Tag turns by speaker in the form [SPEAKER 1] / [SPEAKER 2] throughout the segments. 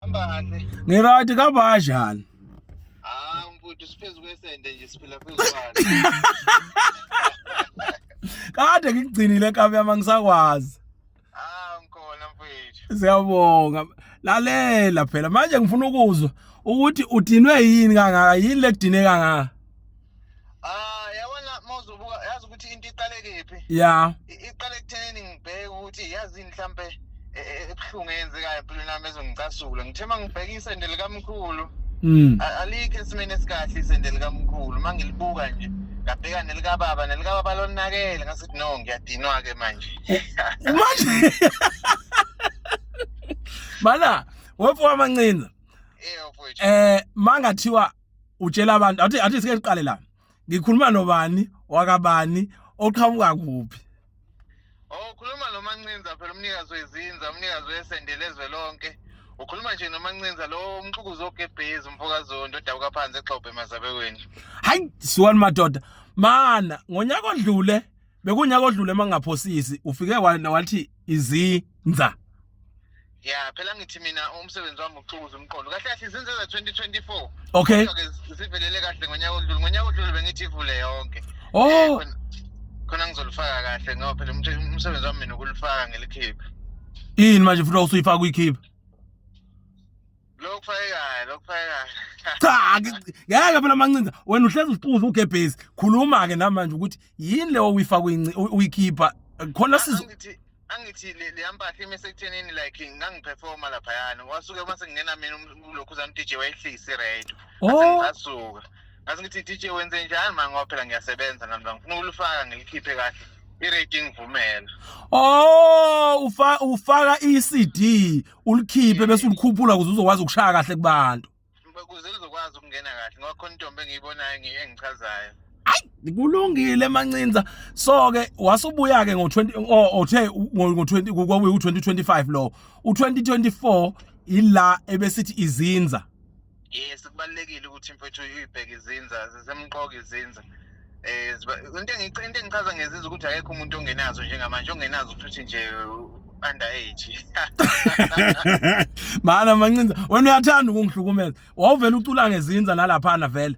[SPEAKER 1] Hambani. Ni right ka
[SPEAKER 2] bajani? Ah,
[SPEAKER 1] mfuthu siphezu kwesende nje siphila phezu
[SPEAKER 2] kwalo. Kade ngikugcinile kabi yama ngisakwazi. Ah,
[SPEAKER 1] ngikhona mfuthu. Siyabonga.
[SPEAKER 2] Lalela phela manje ngifuna ukuzwa ukuthi udinwe yini kangaka yini lekudine kangaka? Ah, yabona
[SPEAKER 1] mawuzobuka yazi ukuthi into iqale kephi? Yeah. Iqale
[SPEAKER 2] ekuthenini
[SPEAKER 1] ngibheke ukuthi yazi mhlambe e, e, ebuhlungu eyenzekayo empilweni yami ezongicasula. Ngithe mangibheka isende likamkhulu. Mm. Alikho esimene esikahle isende likamkhulu. Mangilibuka nje ngabheka nelikababa nelikababa lonakele ngasithi no ngiyadinwa ke manje. Eh, manje.
[SPEAKER 2] Bala, wepo amancinza. Eh, eh
[SPEAKER 1] mangathiwa
[SPEAKER 2] utshela abantu athi athi sike siqale la ngikhuluma nobani wakabani oqhamuka kuphi oh
[SPEAKER 1] khuluma nomancinza phela umnikazi wezinza umnikazi wesendele ezwe lonke ukhuluma nje nomancinza lo umxukuzi ogebhezi umfokazondo odabuka phansi exhobhe emazabekweni hayi
[SPEAKER 2] siwani madoda mana ngonyaka odlule bekunyaka odlule mangingaphosisi ufike wathi izinza
[SPEAKER 1] ya phela ngithi mina umsebenzi wami ukuxukuza umqondo kahle kahle izinze za 2024 okay
[SPEAKER 2] zivelele kahle
[SPEAKER 1] ngonyaka odlule ngonyaka odlule bengithi ivule yonke oh eh, khona ngizolifaka kahle ngoba phela umsebenzi wami mina ukulifaka ngelikhiphe yini manje
[SPEAKER 2] futhi usuyifaka uyikhiphe Lokufayekayo,
[SPEAKER 1] lokufayekayo. Cha,
[SPEAKER 2] ngi- ngeke phela mancinza. Wena uhlezi usicuza ugebhezi. Khuluma ke namanje ukuthi yini leyo uyifaka uyinci- uy- uyikhipha. Khona sizo Angithi angithi
[SPEAKER 1] le le yampahla ime sekuthenini like ngangiperforma lapha yani. Wasuke uma sengingena mina um- ulokhu zam DJ wayehlisi radio. Oh, Ngasuka. Ngase ngithi DJ wenze njani manje ngoba phela ngiyasebenza nami ngifuna ukulifaka ngilikhiphe kahle. I-radio ingivumela. oh ufa
[SPEAKER 2] ufaka iCD ulikhiphe bese ulikhuphula ukuze uzokwazi ukushaya kahle kubantu ukuze uzokwazi
[SPEAKER 1] ukungena kahle ngoba khona intombi engiyibonayo engichazayo ayi
[SPEAKER 2] kulungile mancinza so ke wasubuya ke ngo20 othe ngo20 kwakuyi u2025 lo u2024 ila ebesithi izinza yes
[SPEAKER 1] kubalulekile ukuthi mfethu uyibheke izinza zisemqoka izinza eh into engicinga into engichaza ngezinza ukuthi akekho umuntu ongenazo njengamanje ongenazo ukuthi nje under age
[SPEAKER 2] mana mancinza wena uyathanda ukungihlukumeza wawuvela ucula ngezinza nalaphana vele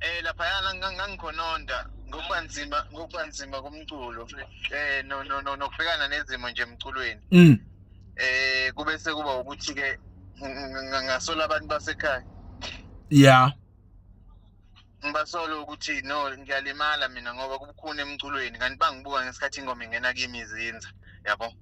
[SPEAKER 2] eh
[SPEAKER 1] laphayana ngang- ngangikhononda ngokuba nzima ngokuba nzima komculo eh no no no nokubhekana nezimo nje emculweni Mm. eh kube sekuba ukuthi ke ngasola abantu basekhaya Yeah. ngibasola ukuthi no ngiyalimala mina ngoba kubukhuni emculweni kanti bangibuka ngesikhathi ingoma ingena kimi izinza yabo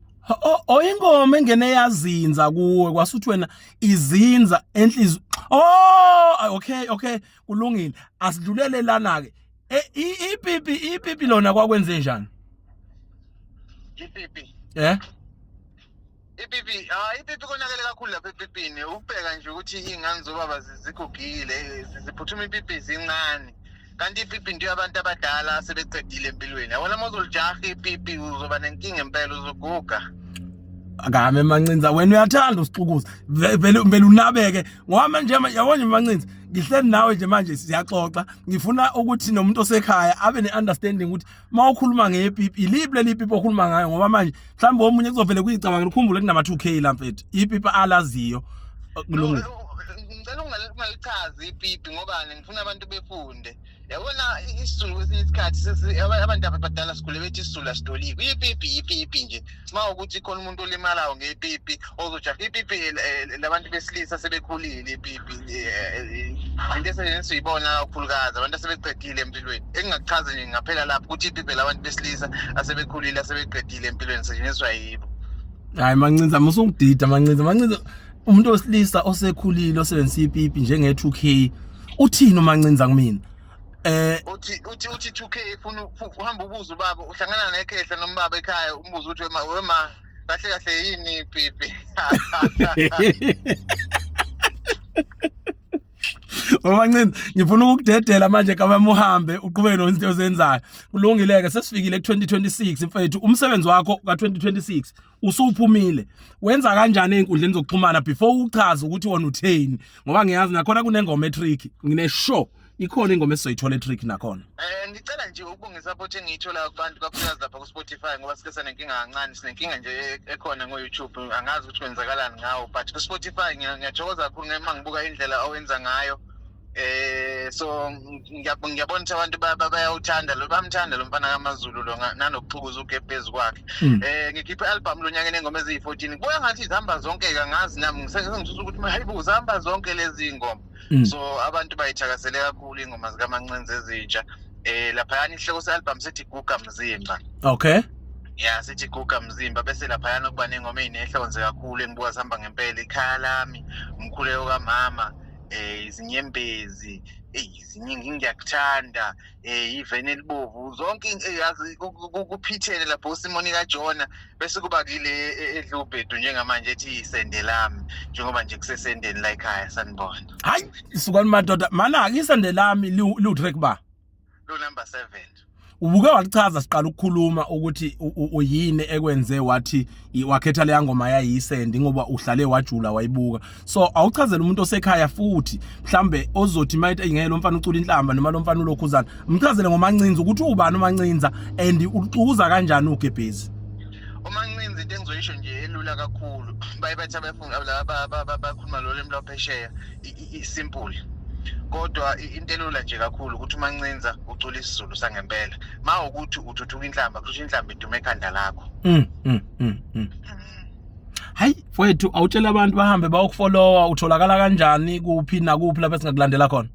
[SPEAKER 1] oyingoma
[SPEAKER 2] engene yazinza kuwe kwasuthi wena izinza enhliziyo oh okay okay kulungile asidlulele lana ke e, ipipi ipipi lona kwakwenze njani ipipi
[SPEAKER 1] eh ipipi ah ipipi konakele kakhulu lapha epipini ubheka nje ukuthi ingane zobaba zigugile ziphuthuma ipipi zincane kanti ipipi into yabantu abadala asebeqedile empilweni yabona uma uzolijaha ipipi uzoba nenkinga impela uzoguga akame
[SPEAKER 2] mancinza wena uyathanda usixukuza vele vele unabeke ngoba manje yabo nje mancinza ngihleli nawe nje manje siyaxoxa ngifuna ukuthi nomuntu osekhaya abe neunderstanding ukuthi uma ukhuluma ngepipi iliphi leli pipi okhuluma ngayo ngoba manje mhlawumbe omunye kuzovele kuyicabanga ukhumbule kunama 2k la mfethu ipipi alaziyo kulungile ngicela
[SPEAKER 1] ungalichazi ipipi ngoba ngifuna abantu befunde yabona isizulu kwesinye isikhathi abantu abadala sigule bethi isizulu asitoliki ipipi ipipi nje uma ukuthi khona umuntu olimalayo ngepipi ozojaha ipipi eh, eh, labantu besilisa sebekhulile ipipi eh, into esiyibona kakhulukazi abantu asebeqedile empilweni engingakuchazi nje ngaphela lapho ukuthi ipipi labantu besilisa asebekhulile asebeqedile empilweni setshenziswa yibo hayi mancinza
[SPEAKER 2] musungidida mancinza mancinza umuntu wesilisa osekhulile osebenzisa ipipi njenge-2k uthini umancinza kumina Eh uthi
[SPEAKER 1] uthi uthi 2K ufuna uhamba ubuza ubaba uhlangana nekhehla nombaba ekhaya umbuza ukuthi wema wema kahle kahle yini pipi
[SPEAKER 2] Mama Ncini ngifuna ukudedela manje kama muhambe uqhubeke nozinto ozenzayo kulungileke sesifikile ku 2026 mfethu umsebenzi wakho ka 2026 usuphumile wenza kanjani ezinkundleni zokuxhumana before uchaze ukuthi wona utheni ngoba ngiyazi nakhona kunengoma etrick ngine show ikhona ingoma esizoyithola etrick nakhona eh ngicela nje
[SPEAKER 1] ukubonga support engiyithola kubantu kakhulukazi lapha ku Spotify ngoba sike sanenkinga kancane sinenkinga nje e-, ekhona ngo YouTube angazi ukuthi kwenzakalani ngawo but ku Spotify ngiyathokoza kakhulu ngema ngibuka indlela owenza ngayo eh so ngiyabona ngiyabona ukuthi abantu ba- ba- bayawuthanda lo bamthanda lo mfana kaMaZulu lo nga- nanokuphukuza uge phezu kwakhe Mm. eh ngikhiphe album lo nyaka enengoma eziyi-14 kubuya ngathi zihamba zonke ke angazi nami ngisengisusa ukuthi hayi bo zihamba zonke lezi ngoma Mm. so abantu bayithakasele kakhulu ingoma zikamancinzi ezintsha eh laphayana ihloko se-album sithi guga mzimba okay
[SPEAKER 2] ya sithi
[SPEAKER 1] guga mzimba bese laphayana kuba nengoma eyinehlonze kakhulu engibuka zihamba ngempela ikhaya lami umkhuleko kamama eh izinyembezi eyiziningi ngiyakuthanda eh iveni elibovu zonke eh, yazi kuphithene lapho usimoni kajona bese kuba kile eh, edlubhedu njengamanje ethi isende lami njengoba nje kusesendeni la ekhaya sanibona hayi sukani
[SPEAKER 2] madoda mana-ke isende lami liwu-track ba lo
[SPEAKER 1] number 7 ubuke
[SPEAKER 2] walichaza siqala ukukhuluma ukuthi uyini ekwenze wathi wakhetha leya ngoma yayisendi ngoba uhlale wajula wayibuka so awuchazele umuntu osekhaya futhi mhlambe ozothi mayithi engeke lo mfana ucula inhlamba noma lo mfana ulokhuzana mchazele ngomancinza ukuthi ubani umancinza and ucuza kanjani ugebhezi umancinza
[SPEAKER 1] into engizoyisho nje elula kakhulu baye bathi abakhuluma lolu emlwaphesheya isimple kodwa intelula nje kakhulu ukuthi umancinza ucula isizulu sangempela ma ukuthi uthuthuka inhlamba kusho inhlamba idume ekhanda lakho mm, mm, mm, mm.
[SPEAKER 2] hayi mfowethu awutshela abantu bahambe bayokufollowa utholakala kanjani kuphi nakuphi lapho esingakulandela khona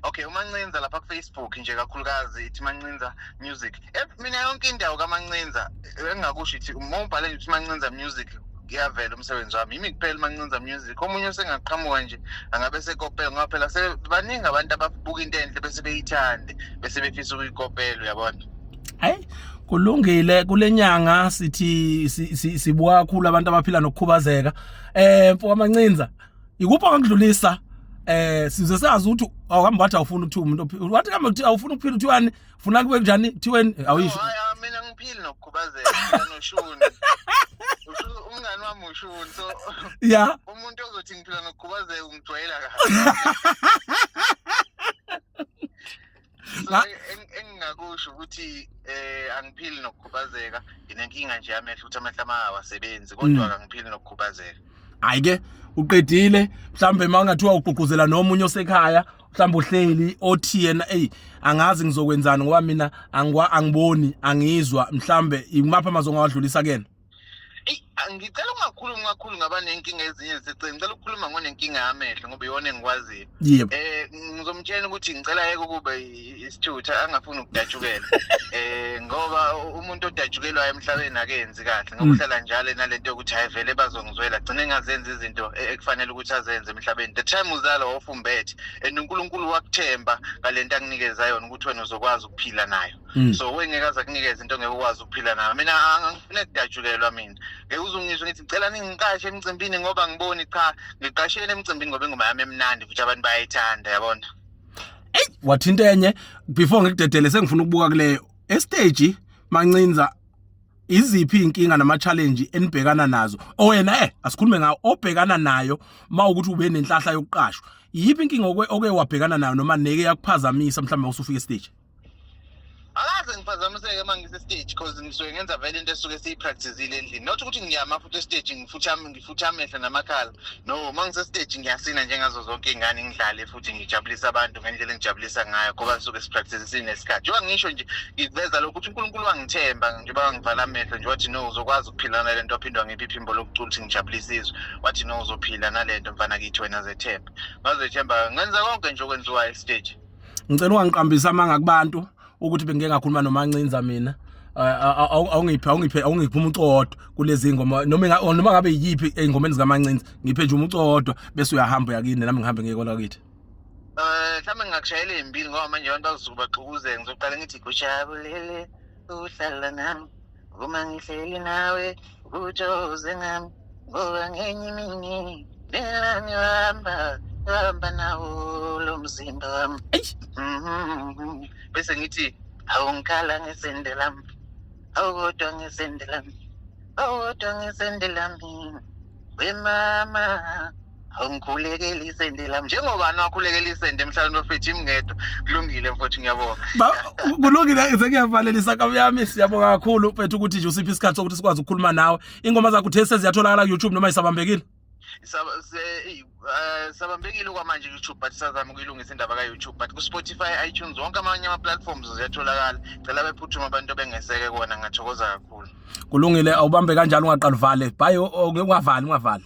[SPEAKER 2] okay
[SPEAKER 1] umancinza lapha kufacebook nje kakhulukazi ithi mancinza music Eh, mina yonke indawo kamancinza eh, engingakusho ithi uma ubhale nje uthi mancinza music kuyavela umsebenzi wami yimi kuphela umancinza music omunye usengaqhamuka nje angabe sekopela ngoba phela se- baningi abantu ababuka into enhle bese beyithande bese befisa ukuyikopela uyabona hayi
[SPEAKER 2] kulungile kule nyanga sithi si- si- sibuka kakhulu abantu abaphila nokukhubazeka um mfo kwamancinza ikuphi akudlulisa eh size sazi ukuthi awuhambi wathi awufuni ukuthi umuntu wathi kambe ukuthi awufuni ukuphila ukuthi wani funa kube njani kuthiweni awuyisho ah, mina ngiphili
[SPEAKER 1] nokukhubazeka noshuni umngani wami ushuni so ya umuntu
[SPEAKER 2] ozothi ngiphila
[SPEAKER 1] nokukhubazeka ungijwayela kahle so engingakusho ukuthi eh angiphili nokukhubazeka nginenkinga nje yamehlo ukuthi amehlo ama awasebenzi kodwa mm. kangiphili nokukhubazeka hayi ke
[SPEAKER 2] uqedile mhlawumbe uma ungathiwa ugqugquzela nomunye osekhaya mhlawumbe uhleli othi yena eyi angazi ngizokwenzani ngoba mina angiboni angizwa mhlawumbe imaphi amazwi ongawadlulisa kuyena eyi
[SPEAKER 1] ngicela ungakhulumi kakhulu ngaba nenkinga ezinye ziseceleni ngicela ukukhuluma ngonenkinga yamehlo ngoba iyona engikwaziyo yebo eh
[SPEAKER 2] ngizomtshela
[SPEAKER 1] ukuthi ngicela yeke ukuba i- isithutha angafuni ukudatshukela eh ngoba u- umuntu odatshukelwayo emhlabeni akenzi kahle ngoba Mm. uhlala njalo nalento yokuthi hayi vele bazongizwela gcine engazenzi izinto e- ekufanele ukuthi azenze emhlabeni the time uzala wafumbethe and uNkulunkulu wakuthemba ngalento akunikeza yona ukuthi wena uzokwazi ukuphila nayo Mm. so wengeke aze kunikeze into ngeke ukwazi ukuphila nayo mina angifune kudatshukelwa mina ngeke uzungizwe ngithi ngicela ningiqashe emcimbini ngoba ngiboni cha ngiqashele emcimbini ngoba ingoma yami emnandi futhi abantu bayayithanda yabona eyi
[SPEAKER 2] wathinta enye before ngikudedele sengifuna ukubuka kule estage mancinza iziphi inkinga nama challenge enibhekana nazo owena eh asikhulume ngawo obhekana nayo mawukuthi ube nenhlahla yokuqashwa yipi inkinga oke wabhekana nayo noma neke yakuphazamisa mhlawumbe usufika estage
[SPEAKER 1] akaze ngiphazamiseke uma ngise-stage because ngisuke ngenza vele into esuke siyipractisile endlini not ukuthi ngiyama futhi estage ngifuthe amehlo namakhala no uma ngise-stage ngiyasina njengazo zonke iy'ngane ngidlale futhi ngijabulise abantu ngendlela engijabulisa ngayo ngoba suke sipractise sinesikhathi njengoba ngisho nje ngikuveza lokho ukuthi unkulunkulu wangithemba njengoba wangivala amehlo nje wathi no uzokwazi ukuphila nale nto waphinde wangipha iphimbo lokucula ukuthi ngijabulise izwe wathi no uzophila nale nto mfana kithi wena zethemba ngazethemba ngenza konke nje okwenziwayo estage ngicela ungangiqambisa
[SPEAKER 2] amanga kubantu ukuthi bengike ngakhuluma nomancinza mina awungiphe awungiphe awungiphe umuntu owodwa kulezi ngoma noma noma ngabe yiphi engomeni zikamancinza ngiphe nje umuntu owodwa bese uyahamba yakini nami ngihambe ngeke kola kithi eh
[SPEAKER 1] mhlawumbe ngingakujayela ezimbili ngoba manje abantu bazosuke baxukuze ngizoqala ngithi kujabulele uhlala nami Uma ngihleli nawe kutsho zingam ngoba ngenye imini lela ngihamba ngihamba nawo lo mzimba wami Eish. Mhm. bese ngithi awungikhala ngesende lami awukodwa ngesende lami awukodwa ngesende lami wemama angikhulekele isende lami njengoba niwakhulekela isende emhlabeni bafethu imngedwa kulungile mfowethu ngiyabonga Ba- kulungile
[SPEAKER 2] sekuyavalelisa kabi yami siyabonga kakhulu mfethu ukuthi nje usiphi isikhathi sokuthi sikwazi ukukhuluma nawe ingoma zakho uthe seziyatholakala ku-youtube noma isabambekile Saba- se- eyi, Uh,
[SPEAKER 1] sabambekile kwamanje YouTube but sazama ukuyilungisa indaba ka-YouTube but ku-Spotify iTunes wonke amanye ama-platforms ziyatholakala cela bephuthuma abantu bengeseke kona ngathokoza kakhulu
[SPEAKER 2] kulungile awubambe kanjalo ungaqaluvale bhayi ungavali ungavali